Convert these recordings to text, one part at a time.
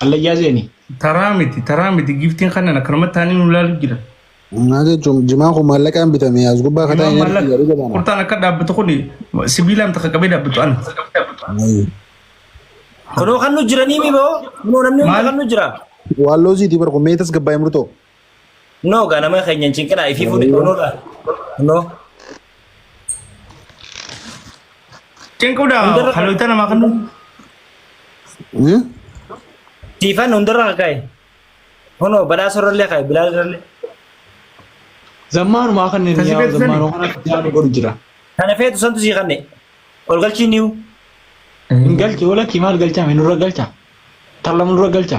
Hallayyaa seenii. Taraa miti taraa miti giftiin kanan akkanumatti taanii nu ilaalu jira. Maal jechuun jimaan kun maallaqaan bitame as gubbaa kataa Jimaan hin arginu maallaqa jedhu jedhama. kurtaan akka dhaabbatu kun sibiilaan takka qabee dhaabbatu ana. Kunoo kan nu jiranii miboo. Kunoo namni hunda Maal? kan nu jira. Waalloo siiti bar kun meetas gabbaa'e murtoo. No ga nama keenya hin cinqinaa ifii fuudhi no la. No. Cinquudha Hundarra- haloota namaa kan Siifan hundarra kaka'e. Hono badhaasa irrallee ka'e bilaal irrallee. Zammaanumaa kanneen Kasi yaa beeksisani? zammaanoo kana jaanu godhu jira. Kana feetu santu sii kanne. Ol galchii niu. Hin galche wala kimaal galchaame nurra galcha. Tallama nurra galcha.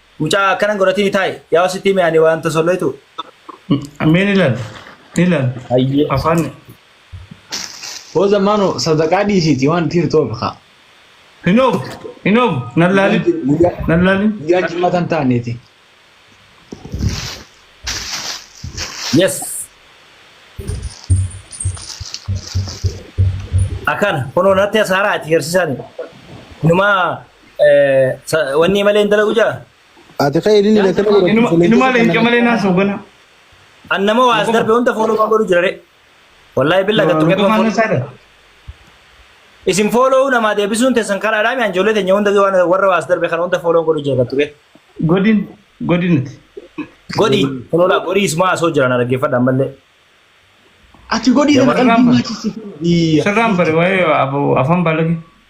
Mucaa akkana godhatini taa'i. Yaa sitti hime ani waan tosolleetu. Mee ni laal. Ni laal. Hayyee. Afaan. Hooza maano sadaqaa dhiisiiti waan tiir toobe kaa. Hin oobu. Hin oobu. Nan laali. Guyyaa Nan laali. guyyaa jimmata hin taaneeti. Yes. Akkana kunoo natti asaaraa ati garsiisaan. Numaa Wanni malee hin dalagu jaa? Ati ka'ee inni na kana godhatu Inuma inuma leenca leenca kana. malee naa soogana. An nama waa as darbe hunda fooloo kan godhu jira re. Wallaahi billa gattu Luka qeefa maana fooloo. saada. Isin fooloo namaa deebisuun teessan karaadhaa mi anjoolee teenya hunda waan warra waa as darbe kana hunda fooloo godhu jira gattu qeefa. Godin godinati. Godhi fooloo godhi ismaa asoo jiran dhaggeeffadhaan mallee. Ati godhi Jamaa kana qalbii irraa nyaachisi. Sirraan bare waa'ee afaan balage.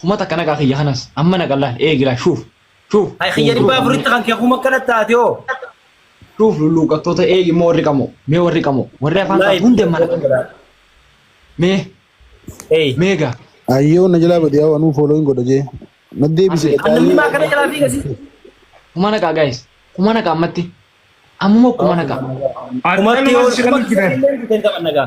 Kuma takka nagaa kiyya kanas amma na qallaan eegi laa shuuf shuuf Hay kiyya dhibbaa afuritti kan kee kuma kana taate hoo. shuuf lulluuqattoota eegi immoo warri qamoo mee warri qamoo warri afaan Wallaahi qabu hundeen mana kana mee Hey. mee gaa Ayyoo na jalaa badee hawaa nuu fooloo hin godha jee. Na deebise Asii, Kan namni maa kana jalaa fiiga si. kuma nagaa gaayis kuma nagaa ammatti ammuma kuma nagaa Kumatti yoo Akkanumatti kan kumatti jiran. illee hin taphatan nagaa.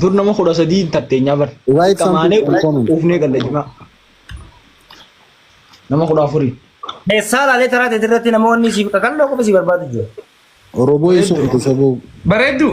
Dur nama kudha sadii hin tatteenyaa bar. Write Qamaanee something in comment. uufnee galla jimaa. Nama kudha afurii. Eessaa laalee taraa ta'e irratti namoonni siif kakalloo qofa si barbaadu jiru. Oromoo eessa Bareedu. olte soboo? Bareedduu.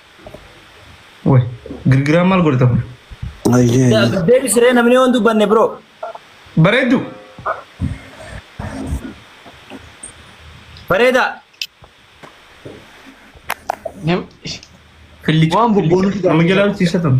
Woy, girgiraan maal godhata kun? Ayyee. Deebisi ree namni yoo hin dubbanne bro. Bareeddu. Bareedaa. Nam- Killicha. Waan bobboonu fida. Nama jalaa hojjechiisatan.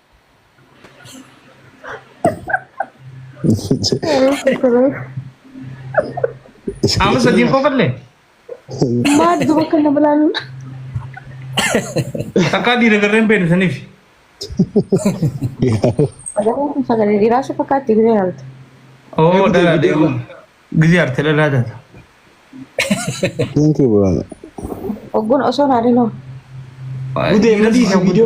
Amma sadiin qofalle Maal duba kan nama laalu? takkaa dhiira garreen beenu saniif. Sagalee kun sagalee dhiiraa si fakkaatti gidee haalta. Oo dhala deemu. Gizee arte dhala taata. Thank you bro. Ogguun osoo naa dinoo. Gudee madii si video.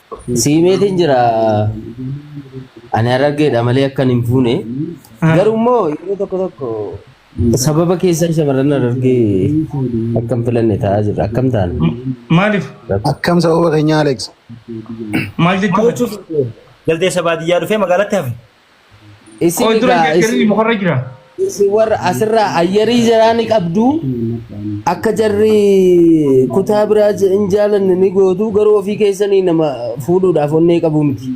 Siimeetiin jira ani harargeedha malee akkan hin fuune garuu immoo yeroo tokko tokko sababa keessan shamarran harargee akka hin filanne ta'aa jira akkam taana Maaliif? Akkam sababa keenya Alex? Maal jechuudha? Jaldeessa baadiyyaa dhufee magaalatti hafe. Isin Qoy dura egaa jettanii isin mukarra jira. isin warra asirraa ayyarii jaraa ni qabdu akka jarri kutaa biraa je- hin jaalanne ni gootu garuu ofii keessanii nama fuudhuudhaaf onnee qabu miti.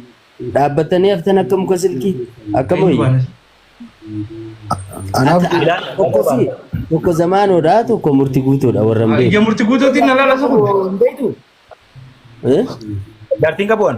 Dhaabbattanii haftan akka muka silkii akka Eenyu boyi. baanas? Anaaf Ata- Tokko fi tokko zamaanoodha tokko murti guutuudha warra hin Ija beeku. murti guutuutiin na laala sukun. Hin beektu? Eh? Jaartiin qabu'an.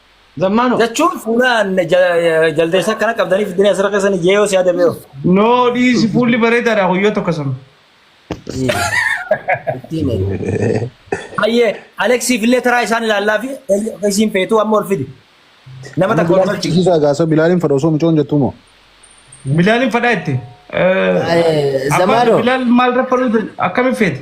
Zammaanoo. Jechuun fuula jaldeessa akkana qabdanii fiddanii asirra keessan jeeyoo si yaada beeku. Noo dhiisi fuulli bareedaadha guyyoo tokko sun. Hayyee Aleksiif illee taraa isaan ilaallaa fi isiin feetuu amma ol fidi. Nama takka ol galchi. Isa gaasa bilaaliin fadha osoo mucoon jettuu moo. Bilaaliin fadhaa itti. Zamaanoo. Bilaal maal raffaluutu akkamiin feete?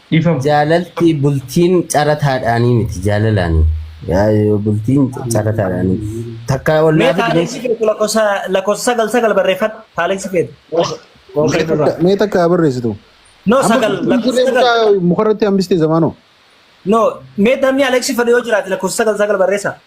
Dhifama. Jaalalti bultiin carataadhaanii miti jaalalaani. Yaa- Bultiin carataadhaanii miti. Takka Mee ollaa fi taaleeksi bineensi. keetu lakkoofsa lakkoofsa sagal sagal barreeffadhu taaleeksi keetu. Mee takka- Mee takka haa barreessitu. No Amma sagal bultiin lakkoofsa turree sagal. mucaa mukarratti hambistee zamaanoo. No mee namni Aleeksi fedhu yoo jiraate lakkoofsa sagal sagal barreessa.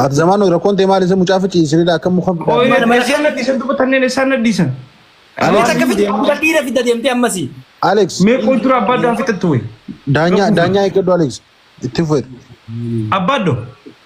Ati zamaan rakkoon ta'e maal isa mucaa fi ciisinidha akka muka. Qoyee Mana- mana- isaan nadhiisan duba tanneen isaan nadhiisan. Alex akka fidde akka dhiira fidda deemtee ammasii. Alex Mee qoy dura abbaa daan fixattu wayi. daanyaa daanyaa eeggadhu Alex itti fufeera. Abbaa doo.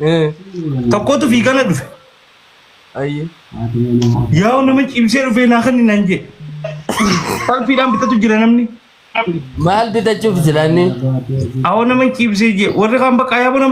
Eh, Tokkotu fiigana dhufe. ayyi. Yaa'u nama cimsee dhufee naa kan naan jee. Salphiidhaan bitatu jira namni. Maal bitachuuf jiranni? Awoo nama cimsee jee. Warri kaan bakka yaaboo nama